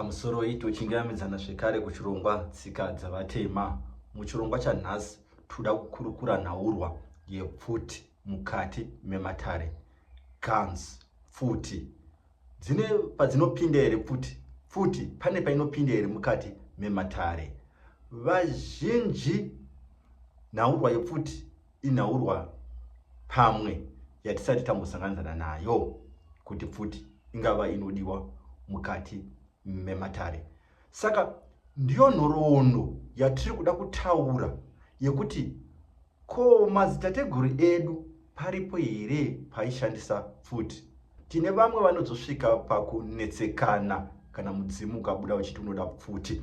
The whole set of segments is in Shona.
Pamusoroi tochingamidzana zvekare kuchirongwa tsika dzavatema. Muchirongwa chanhasi toda kukurukura nhaurwa yepfuti mukati mematare. Guns, pfuti dzine padzinopinda here pfuti? Pfuti pane painopinda here mukati mematare? Vazhinji nhaurwa yepfuti inhaurwa pamwe yatisati tambosanganidzana nayo kuti pfuti ingava inodiwa mukati mematare saka ndiyo nhoroondo yatiri kuda kutaura yekuti ko madzitateguru edu paripo here paishandisa pfuti tine vamwe vanozosvika pakunetsekana kana mudzimu ukabuda uchiti unoda pfuti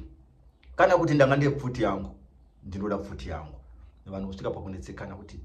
kana kuti ndanga ndine pfuti yangu ndinoda pfuti yangu vanhu kusvika pakunetsekana kuti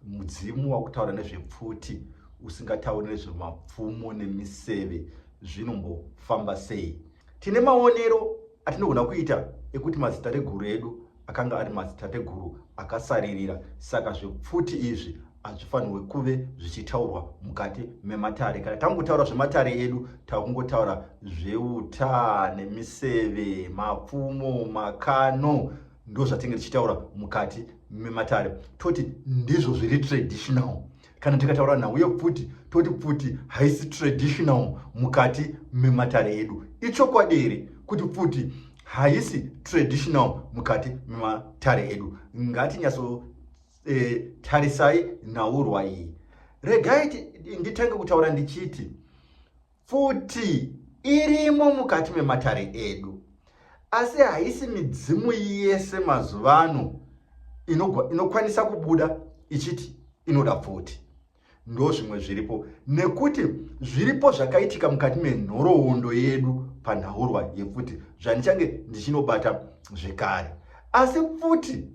mudzimu wakutaura nezvepfuti usingatauri nezvemapfumo nemiseve zvinombofamba sei tine maonero atinogona kuita ekuti mazitateguru edu akanga ari mazitateguru akasaririra saka zvepfuti izvi hazvifanirwe kuve zvichitaurwa mukati mematare kana tangotaura zvematare edu takungotaura zveuta nemiseve mapfumo makano ndozvatinge tichitaura mukati mematare toti ndizvo zviri traditional kana tikataura nhau yepfuti toti pfuti haisi traditional mukati mematare edu ichokwadi here kuti pfuti haisi traditional mukati mematare edu ngatinyatso e, tarisai nhaurwa iyi regai nditenge kutaura ndichiti futi irimo mukati mematare edu asi haisi midzimu yese mazuva ano inokwanisa ino kubuda ichiti inoda pfuti ndo zvimwe zviripo nekuti zviripo zvakaitika mukati menhoroondo yedu panhaurwa yepfuti zvandichange ndichinobata zvekare asi pfuti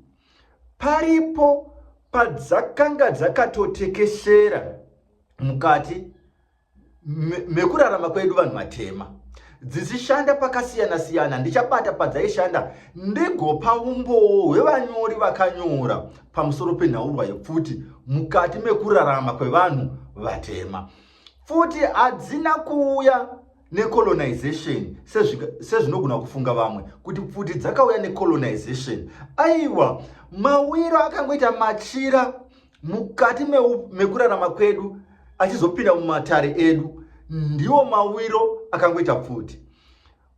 Paripo padzakanga dzakatotekeshera mukati mekurarama kwedu vanhu vatema dzichishanda pakasiyana siyana ndichabata padzaishanda ndigopa umbowo hwevanyori vakanyora pamusoro penhaurwa yepfuti mukati mekurarama kwevanhu vatema pfuti hadzina kuuya necolonization sezvinogona kufunga vamwe kuti pfuti dzakauya necolonization aiwa mawiro akangoita machira mukati mekurarama kwedu achizopinda mumatare edu ndiwo mawiro akangoita pfuti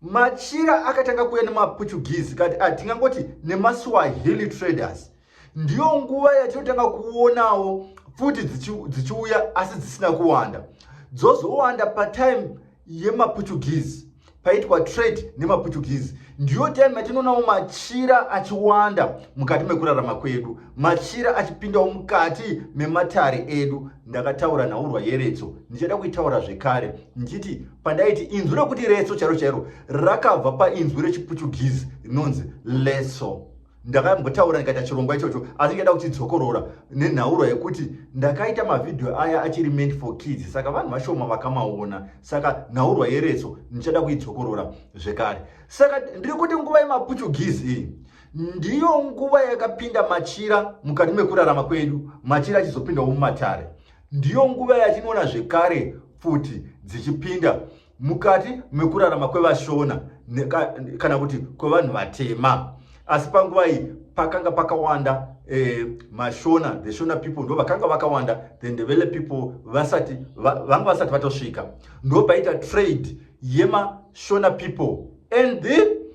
machira akatanga kuuya nemaportuguese kati atingangoti ah, nemaswahili traders ndiyo nguva yatinotanga kuonawo pfuti dzichiuya asi dzisina kuwanda dzozowanda patime yemaportuguese paitwa trade nemaportuguese ndiyo time yatinoonawo machira achiwanda mukati mekurarama kwedu machira achipindawo mukati mematare edu ndakataura nhaurwa yeretso ndichada kuitaura zvekare ndichiti pandaiti inzwi rekuti retso chairo chairo rakabva painzwi rechiportuguese rinonzi leso Ndakambotaura ndikaita chirongwa ichocho asi ndikaita kuchidzokorora nenhaurwa yekuti ndakaita mavhidhiyo aya achiri meant for kids saka vanhu vashoma vakamaona saka nhaurwa yeretso ndichada kuidzokorora zvekare saka ndiri kuti nguva yemaputugizi iyi ndiyo nguva yakapinda machira mukati mekurarama kwedu machira achizopindawo mumatare ndiyo nguva yatinoona zvekare pfuti dzichipinda mukati mekurarama kwevashona kana kuti kwevanhu vatema asi panguva iyi pakanga pakawanda eh, mashona the shona people ndo vakanga vakawanda the ndevele people vasati vanga vasati vatosvika ndo paita trade yemashona people and the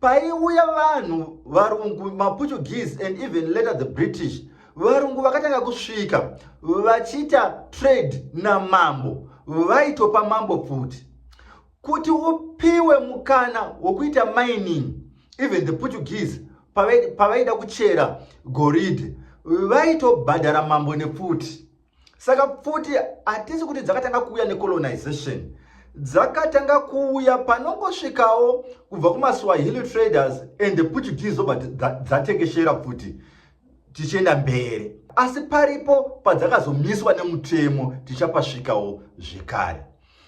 paiuya vanhu varungu maportuguese and even later the british varungu vakatanga kusvika vachiita trade namambo vaitopa mambo pfuti kuti upiwe mukana wokuita mining even the portuguese pavaida kuchera goridhe vaitobhadhara mambo nepfuti saka pfuti hatisi kuti dzakatanga kuuya necolonization dzakatanga kuuya panongosvikawo kubva kumaswahili traders and the portuguese obva dzatekeshera pfuti tichienda mberi asi paripo padzakazomiswa nemutemo tichapasvikawo zvekare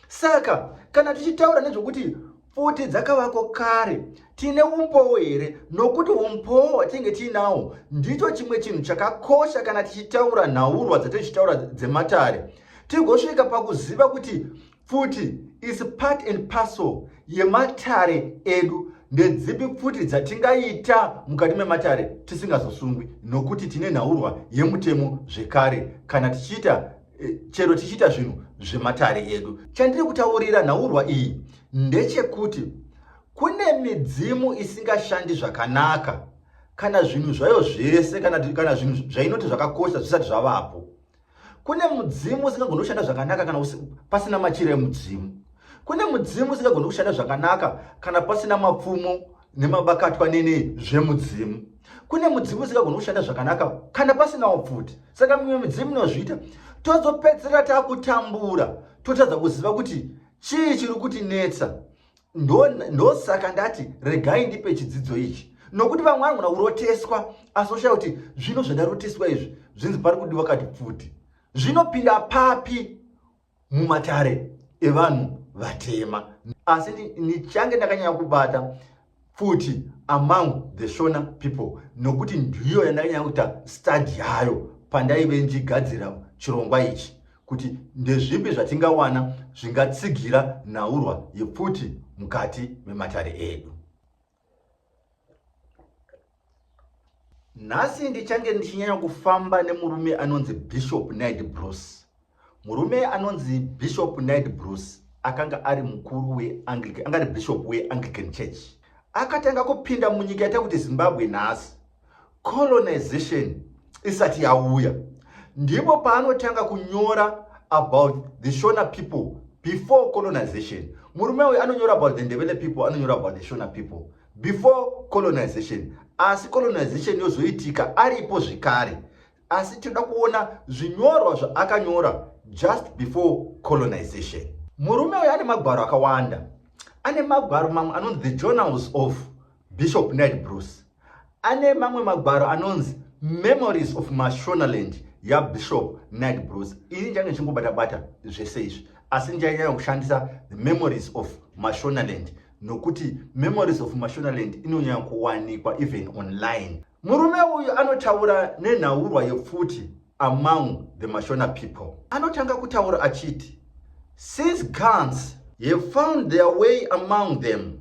Saka kana tichitaura nezvokuti pfuti dzakavako kare tiine umbowo here nokuti umbowo hwatinenge tiinawo ndicho chimwe chinhu chakakosha kana tichitaura nhaurwa dzatichitaura dzematare tigosvika pakuziva kuti pfuti is part and parcel yematare edu ndedzipi pfuti dzatingaita mukati mematare tisingazosungwi nokuti tine nhaurwa yemutemo zvekare kana tichiita e, chero tichiita zvinhu zvematare edu chandiri kutaurira nhaurwa iyi ndechekuti kune midzimu isingashandi zvakanaka kana zvinhu zvayo zvese kana, kana zvinhu zvainoti zvakakosha zvisati zvavapo kune mudzimu usingagoni kushanda zvakanaka kana pasina machira emudzimu kune mudzimu usingagoni kushanda zvakanaka kana pasina mapfumo nemabakatwa nene zvemudzimu kune mudzimu usingagoni kushanda zvakanaka kana pasinawo pfuti saka mimwe midzimu inozviita tozopedzisira takutambura totadza kuziva kuti chii chiri kuti netsa ndosaka ndati regai ndipe chidzidzo ichi nokuti vamwe vanogona kuroteswa asi oshaya kuti zvino zvandaroteswa izvi zvinzi pari kudiwa kati pfuti zvinopinda papi mumatare evanhu vatema asi ndichange ndakanyanya kubata futi among the shona people nokuti ndiyo yandakanyanya kuita stadi yayo pandaive ndigadzira chirongwa ichi kuti ndezvipi zvatingawana zvingatsigira nhaurwa yepfuti mukati mematare edu nhasi ndichange ndichinyanya kufamba nemurume anonzi bishop nid bruce murume anonzi bishop nid bruce akanga ari mukuru weanglican anga ari bishop weanglican church akatanga kupinda munyika yaita kuti zimbabwe nhasi colonization isati yauya ndipo paanotanga kunyora about the shona people before colonization murume uyu anonyora about the ndevele people anonyora about the shona people before colonization asi colonization yozoitika aripo zvekare asi tinoda kuona zvinyorwa zvaakanyora just before colonization murume uyu ane magwaro akawanda ane magwaro mamwe anonzi the journals of bishop ned bruce Ane mamwe magwaro anonzi Memories of Mashonaland yaBishop Ned Bruce. Ini ndange ndichingobata bata zvese izvi asi ndichanyanya kushandisa the Memories of Mashonaland nokuti Memories of Mashonaland inonyanya kuwanikwa even online. Murume uyu anotaura nenhaurwa yepfuti among the Mashona people. Anotanga kutaura achiti since guns have found their way among them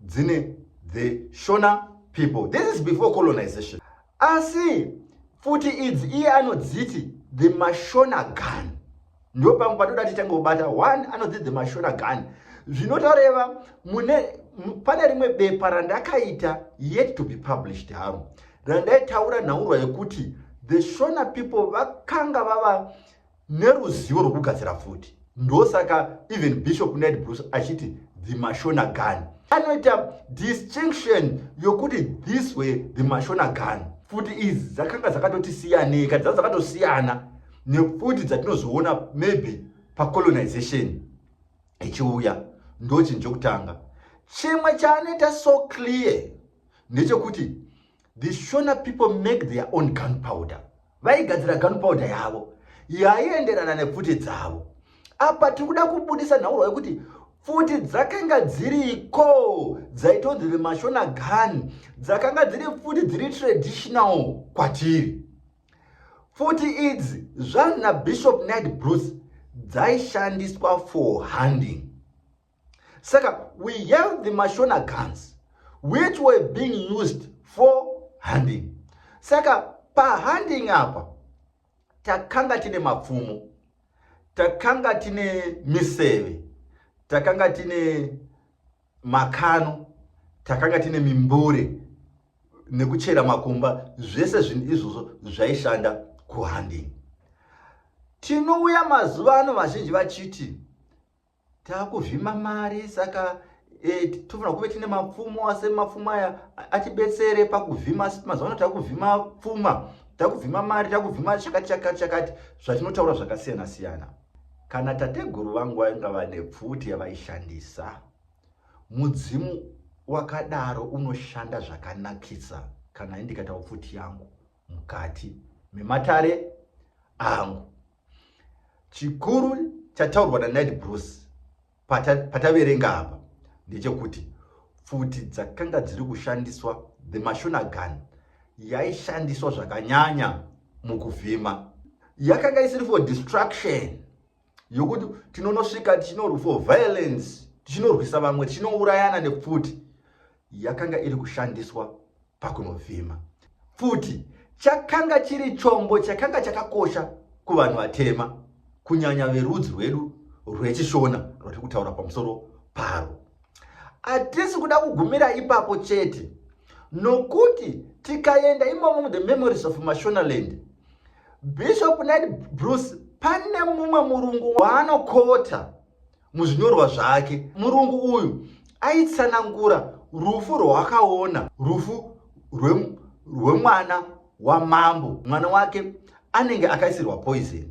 dzine the shona people this is before colonization asi futi idzi iye anodziti the mashona gun ndo pamwe patoda titange kubata one anodziti the mashona gun zvinotoreva mune pane rimwe bepa randakaita yet to be published haro randaitaura nhaurwa yekuti the shona people vakanga vava neruzivo rwokugadzira pfuti ndosaka even bishop ned bruce achiti the mashona gun anoita distinction yokuti this way the mashona gun pfuti idzi dzakanga dzakatoti siyanei ka dzaa dzakatosiyana nepfuti dzatinozoona maybe pacolonization ichiuya ndochinhu chokutanga chimwe chaanoita so clear ndechekuti The Shona people make their own gunpowder. Vaigadzira gunpowder yavo yaienderana nepfuti dzavo. Apa tiri kuda kubudisa nhaurwa yekuti pfuti dzakanga dziriko dzaitonzi vemashona gun dzakanga dziri pfuti dziri traditional kwatiri. Pfuti idzi zvanzi naBishop Ned Bruce dzaishandiswa for hunting. saka we have the mashona guns which were being used for hunting saka pahunting apa takanga tine mapfumo takanga tine miseve takanga tine makano takanga tine mimbure nekuchera makumba zvese zvinhu izvozvo zvaishanda kuhanding tinouya mazuva ano vazhinji vachiti takuzvima mari saka e, tofanira kuve tine mapfumo ase mapfumo aya atibetsere pakuvhima asi mazuva ano takuvhima pfuma takuvhima mari takuvhima chakati chakati chakati zvatinotaura zvakasiyana siyana kana tateguru vangu vainga vane pfuti yavaishandisa mudzimu wakadaro unoshanda zvakanakisa kana indikatawo pfuti yangu mukati mematare angu chikuru chataurwa nanid bruce pataverenga apa ndechekuti pfuti dzakanga dziri kushandiswa the mashona gun yaishandiswa zvakanyanya mukuvhima yakanga isiri for destruction yokuti tinonosvika tichinorwa for violence tichinorwisa vamwe tichinourayana nepfuti yakanga iri kushandiswa pakunovhima. Pfuti chakanga chiri chombo chakanga chakakosha kuvanhu vatema, kunyanya verudzi rwedu rweChishona rwatiri kutaura pamusoro paro. Hatisi kuda kugumira ipapo chete, nokuti tikaenda imomo muThe Memories of Mashonaland, Bishop Ned Bruce pane mumwe murungu waanokota Muzvinyorwa zvake, murungu uyu aitsanangura rufu rwaakaona, rufu rwemwana rwe wamambo. Mwana wake anenge akaisirwa poison,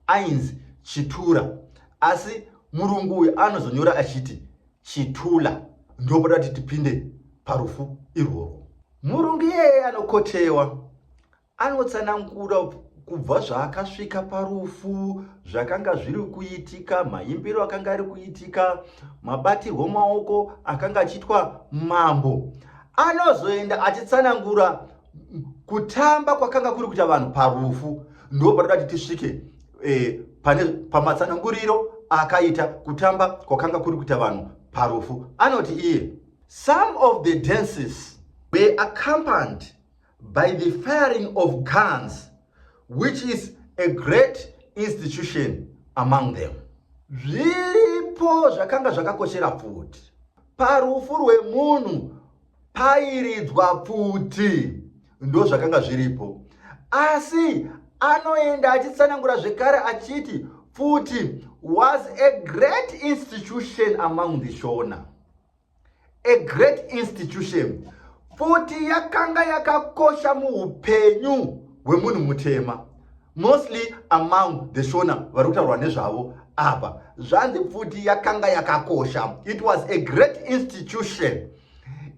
ainzi Chitura, asi murungu uyu anozonyora achiti Chitula. Ndopoda kuti tipinde parufu irworwo. Murungu iyeye anokotewa Anotsanangura kubva zvaakasvika parufu, zvakanga zviri kuitika, maimbiro akanga ari kuitika, mabatirwo maoko akanga achiitwa mambo. Anozoenda achitsanangura kutamba kwakanga kuri kuita vanhu parufu, ndo patoda kuti tisvike e, pane pamatsananguriro akaita kutamba kwakanga kuri kuita vanhu parufu. Anoti iye, some of the dances were accompanied by the firing of guns which is a great institution among them zviripo zvakanga zvakakoshera pfuti parufu rwemunhu pairidzwa pfuti ndo zvakanga zviripo asi anoenda achitsanangura zvekare achiti pfuti was a great institution among the shona a great institution futi yakanga yakakosha muupenyu hwemunhu mutema mostly among the shona vari kutaurwa nezvavo apa zvanzi futi yakanga yakakosha it was a great institution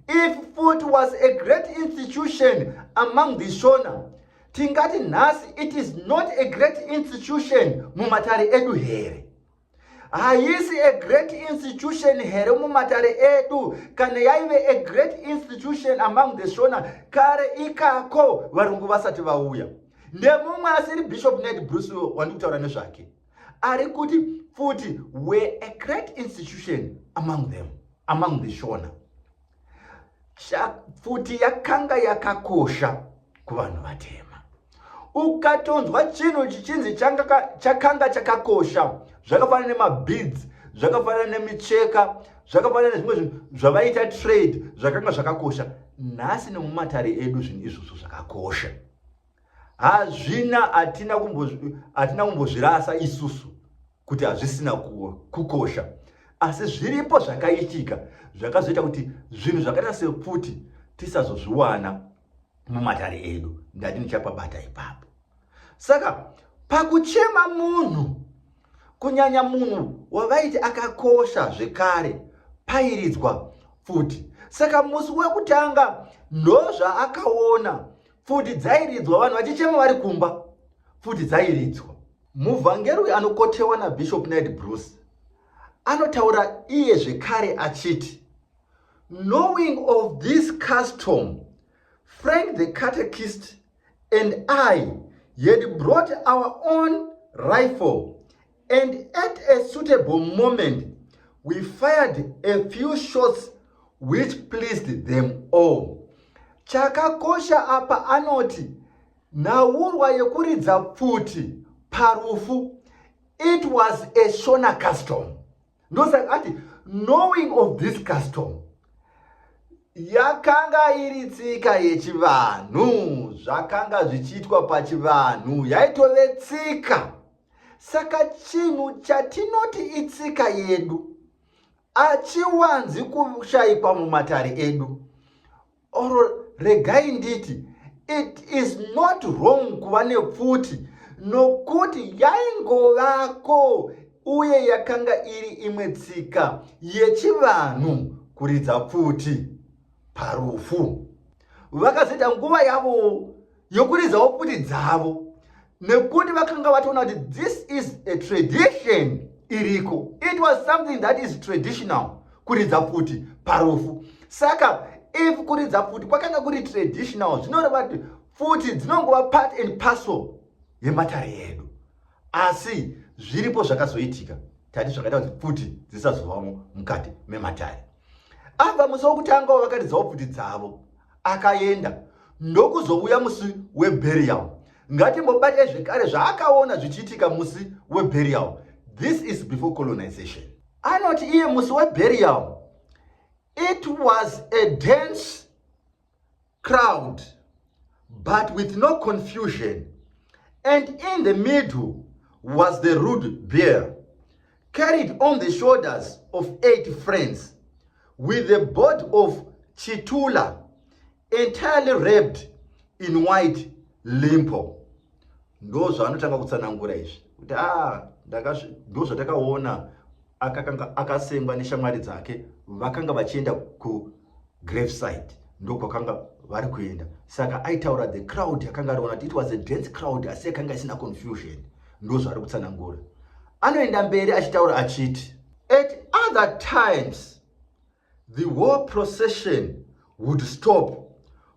if futi was a great institution among the shona tingati nhasi it is not a great institution mumatare edu here haisi a great institution here mumatare edu kana yaive a great institution among the shona kare ikako varungu vasati vauya nemumwe asiri bishop ned bruce wandiri kutaura nezvake ari kuti futi were a great institution among them among the shona pfuti yakanga yakakosha kuvanhu vatema ukatonzwa chinhu chichinzi chakanga chakakosha zvakafanana nemabeads zvakafanana nemicheka zvakafanana nezvimwe zvinhu zvavaita trade zvakanga zvakakosha nhasi nemumatare edu zvinhu izvozvo zvakakosha hazvina hatina kumbozvirasa isusu kuti hazvisina kukosha asi zviripo zvakaitika zvakazoita kuti zvinhu zvakaita sepfuti tisazozviwana mumatare edu ndati ndichapabata ipapo saka pakuchema munhu kunyanya munhu wavaiti akakosha zvekare pairidzwa pfuti saka musi wekutanga ndozvaakaona pfuti dzairidzwa vanhu vachichema vari kumba pfuti dzairidzwa Muvhangeri uyu anokotewa naBishop Ned Bruce anotaura iye zvekare achiti knowing of this custom frank the catechist and i had brought our own rifle and at a suitable moment we fired a few shots which pleased them all chakakosha apa anoti Nhaurwa yekuridza pfuti parufu it was a shona custom ndosaka ati knowing of this custom yakanga iri tsika yechivanhu zvakanga zvichiitwa pachivanhu yaitove tsika saka chinhu chatinoti itsika yedu achiwanzi kushaikwa mumatare edu or regai nditi it is not wrong kuva nepfuti nokuti yaingovako uye yakanga iri imwe tsika yechivanhu kuridza pfuti parufu vakazoita nguva yavo yokuridzawo pfuti dzavo nekuti vakanga vatoona kuti this is a tradition iriko it was something that is traditional kuridza pfuti parufu saka if kuridza pfuti kwakanga kuri traditional zvinoreva kuti pfuti dzinongova part and parcel yematare edu asi zviripo zvakazoitika tati zvakaita kuti pfuti dzisazovamo mukati mematare abva musi wokutangawo vakaridzawo pfuti dzavo akaenda ndokuzouya musi weburial ngatimbobatai zvekare zvaakaona zvichiitika musi weburial this is before colonization anoti iye musi weburial it was a dense crowd but with no confusion and in the middle was the rude bear carried on the shoulders of eight friends with the body of Chitula entirely wrapped in white limpo. Ndo zvaanotanga kutsanangura izvi kuti ah, ndo zvatakaona akasengwa neshamwari dzake vakanga vachienda ku graveside ndokwakanga vari kuenda saka aitaura the crowd yakanga ariona kuti it was a dense crowd asi yakanga isina confusion ndozvaari kutsanangura anoenda mberi achitaura achiti at other times the war procession would stop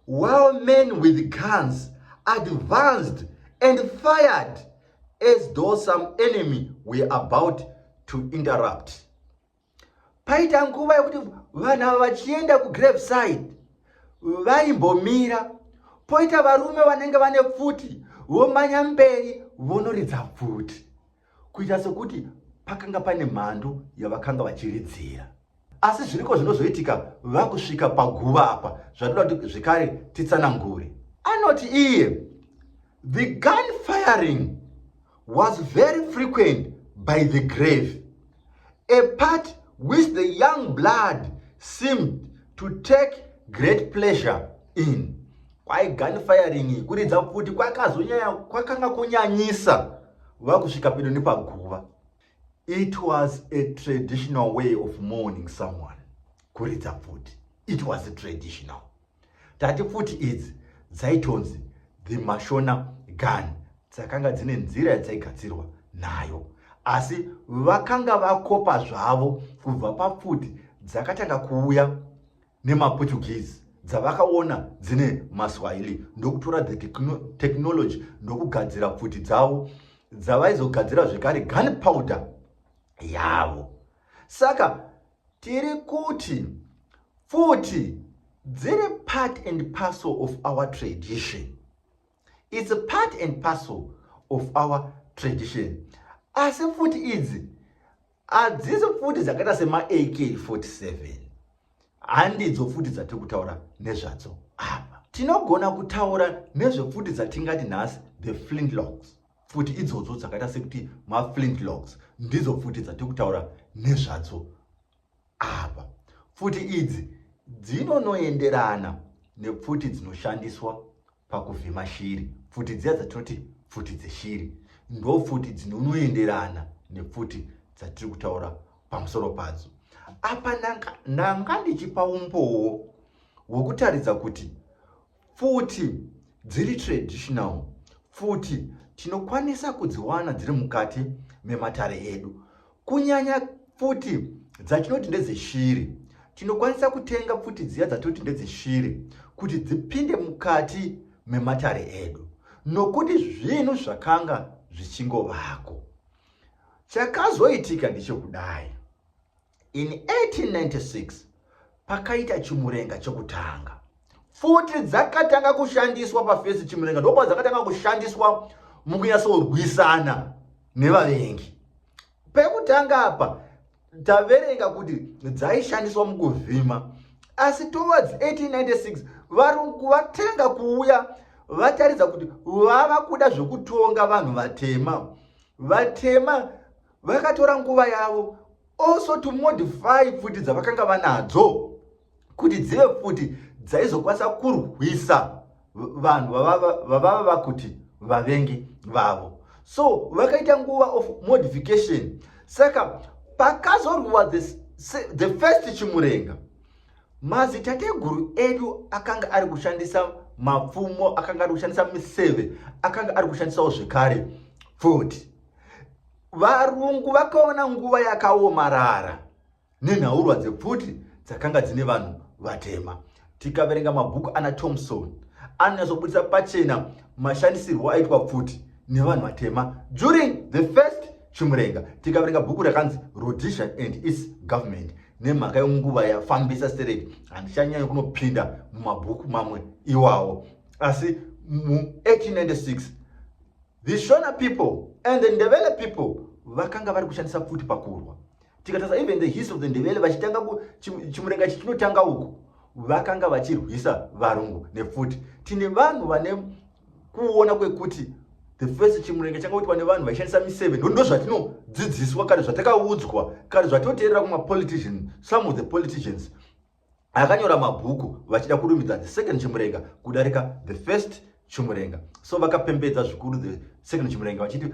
while men with guns advanced and fired as though some enemy were about to interrupt paita nguva yekuti vanhu ava vachienda kugrave side vaimbomira poita varume vanenge vane pfuti vomanya mberi vonoridza pfuti kuita sekuti pakanga pane mhandu yavakanga vachiridzira asi zviriko zvinozoitika vakusvika paguva apa zvatoda kuti zvekare titsanangure anoti iye the gun firing was very frequent by the grave, a part which the young blood seemed to take great pleasure in. Kwai gun firing kuridza kuti kwakazonyanya kwakanga kunyanyisa vakusvika pedo nepaguva. It was a traditional way of mourning someone. Kuridza pfuti. It was a traditional. Tati pfuti idzi dzaitonzi the Mashona gun dzakanga dzine nzira yadzaigadzirwa nayo asi vakanga vakopa zvavo kubva papfuti dzakatanga kuuya nemaportuguese dzavakaona dzine maswahili ndokutora the technology ndokugadzira pfuti dzavo dzavaizogadzira zvekare gun powder yavo saka Tiri kuti futi dziri part and parcel of our tradition. It's a part and parcel of our tradition. Asi futi idzi hadzisi futi dzakaita semaAK47. Handidzo futi dzatiri kutaura nezvadzo apa. Tinogona kutaura nezvefuti dzatingati nhasi the flintlocks. pfuti idzodzo dzakaita sekuti maflintlocks ndidzo pfuti dzatiri kutaura nezvadzo apa pfuti idzi dzinonoenderana nepfuti dzinoshandiswa pakuvhima shiri pfuti dziya dzatinoti pfuti dzeshiri ndo pfuti dzinonoenderana nepfuti dzatiri kutaura pamusoro padzo apa ndanga ndichipa umbowo hwekutaridza kuti Pfuti dziri traditional pfuti tinokwanisa kudziwana dziri mukati mematare edu kunyanya pfuti dzatinoti ndedzeshiri tinokwanisa kutenga pfuti dziya dzatinoti ndedzeshiri kuti dzipinde mukati mematare edu nokuti zvinhu zvakanga zvichingovako chakazoitika ndechekudai In 1896 pakaita chimurenga chekutanga. Futi dzakatanga kushandiswa pafesi chimurenga ndokuva dzakatanga kushandiswa mukunyatsorwisana nevavengi. Pekutanga apa taverenga kuti dzaishandiswa mukuvhima asi towards 1896 varungu vatanga kuuya vataridza kuti vava kuda zvekutonga vanhu vatema vatema vakatora nguva yavo also to modify pfuti dzavakanga vanadzo kuti dzive pfuti dzaizokwanisa kurwisa vanhu vavava vakuti vavengi vavo so vakaita nguva of modification saka pakazorwiwa the, the first chimurenga mazitateguru edu akanga ari kushandisa mapfumo akanga ari kushandisa miseve akanga ari kushandisawo zvekare pfuti varungu vakaona nguva yakaomarara nenhaurwa dzepfuti dzakanga dzine vanhu vatema tikaverenga mabhuku ana thomson anonyatsobudisa pachena mashandisirwo aitwa pfuti nevanhu vatema during the first chimurenga tikaverenga bhuku rakanzi rhodesia and its government nemhaka yenguva yafambisa stereki handichanyanyi kunopinda mumabhuku mamwe iwawo asi mu 1896 The Shona people and the Ndebele people vakanga vari kushandisa pfuti pakurwa. Tikatarisa even the history of the Ndebele vachitanga chimurenga chichinotanga uku vakanga vachirwisa varungu nepfuti. Tine vanhu vane kuona kwekuti the first chimurenga changa kuitwa nevanhu vaishandisa miseve ndo ndozvatinodzidziswa kana zvatakaudzwa kana zvatinoteerera kumapolitician some of the politicians akanyora mabhuku vachida kurumbidza the second chimurenga kudarika the first chimurenga so vakapembedza zvikuru the second chimurenga vachiti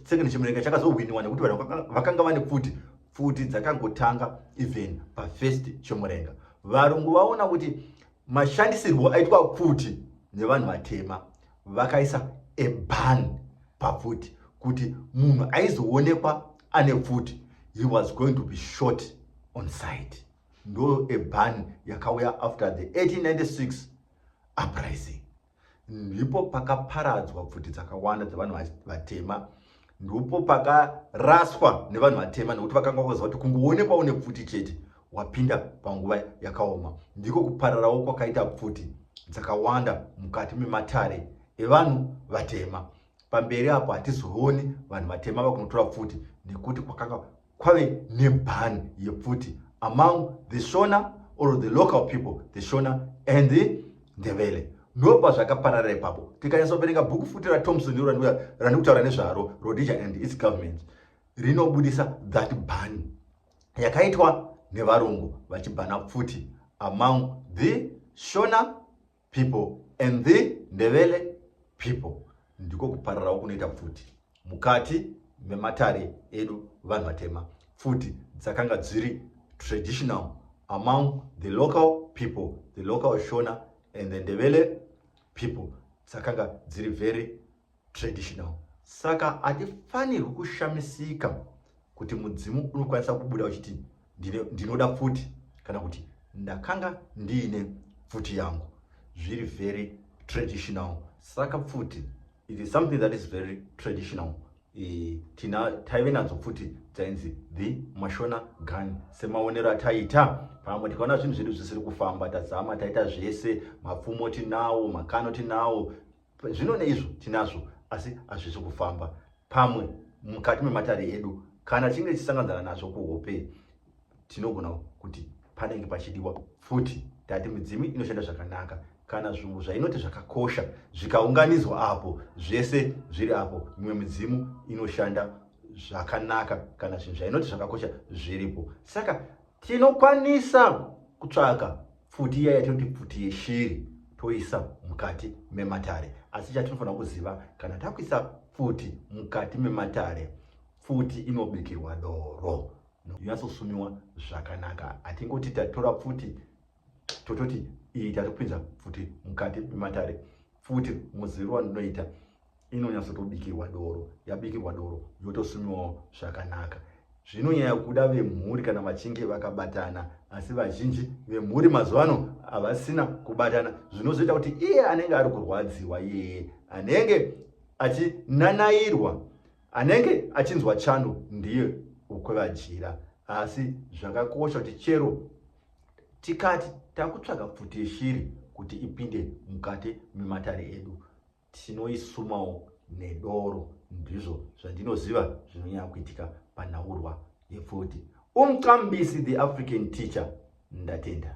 second chimurenga chakazohwiniwa nekuti vanhu vakanga vane pfuti pfuti dzakangotanga even pafirst chimurenga varungu vaona kuti mashandisirwo aitwa pfuti nevanhu vatema vakaisa eban papfuti kuti munhu aizoonekwa ane pfuti he was going to be short on site ndo a ban yakauya after the 1896 uprising ndipo pakaparadzwa pfuti dzakawanda dzevanhu vatema ndipo pakaraswa nevanhu vatema nekuti vakanga vakaziva kuti kungoonekwa une pfuti chete wapinda panguva yakaoma ndiko kupararawo kwakaita pfuti dzakawanda mukati mematare evanhu vatema pamberi apo hatizooni vanhu vatema vakunotora pfuti nekuti kwakanga kwave neban yepfuti among the shona or the local people the shona and the ndevele ndopa zvakaparara ipapo tikanyatsa kuverenga bhuku futi ratomson iro randiri kutaura nezvaro rhodesia and its government rinobudisa that ban yakaitwa nevarungu vachibhana pfuti among the shona people and the ndevele people ndiko kupararawo kunoita pfuti mukati mematare edu vanhu vatema pfuti dzakanga dziri traditional among the local people the local shona and the ndevele people dzakanga dziri very traditional saka hatifanirwi kushamisika kuti mudzimu unokwanisa kubuda uchiti ndinoda pfuti kana kuti ndakanga ndiine pfuti yangu zviri very traditional saka pfuti it is something that is very traditional e, tina taive nadzo pfuti dzainzi the mashona gun semaonero ataita pamwe tikaona zvinhu zvedu zvisiri kufamba tazama taita zvese mapfumo tinawo makano tinawo Zvino neizvo tinazvo asi hazvisi kufamba pamwe mukati mematare edu. Kana tichinge tichisanganzana nazvo kuhope, tinogona kuti panenge pachidiwa futi. Tati midzimu inoshanda zvakanaka kana zvinhu zvainoti zvakakosha zvikaunganidzwa apo zvese zviri apo, mimwe midzimu inoshanda zvakanaka kana zvinhu zvainoti zvakakosha zviripo. Saka tinokwanisa kutsvaka pfuti iya yatinoti pfuti yeshiri toisa mukati mematare asi chatinofanira kuziva kana takuisa pfuti mukati mematare pfuti inobikirwa doro inatsosumiwa zvakanaka hatingoti tatora pfuti tototi iyi tari kupinza pfuti mukati mematare pfuti muziviro wandinoita inonyatsotobikirwa doro yabikirwa doro yotosumiwawo zvakanaka zvinonyaya kuda vemhuri kana vachinge vakabatana asi vazhinji vemhuri mazuva ano havasina kubatana zvinozoita kuti iye anenge ari kurwadziwa iyeye anenge achinanairwa anenge achinzwa chando ndiye ukwevajira asi zvakakosha kuti chero tikati takutsvaga pfuti yeshiri kuti ipinde mukati mematare edu tinoisumawo nedoro ndizvo zvandinoziva zvinonyanya kuitika panhaurwa yepfuti umqambisi the african teacher ndatenda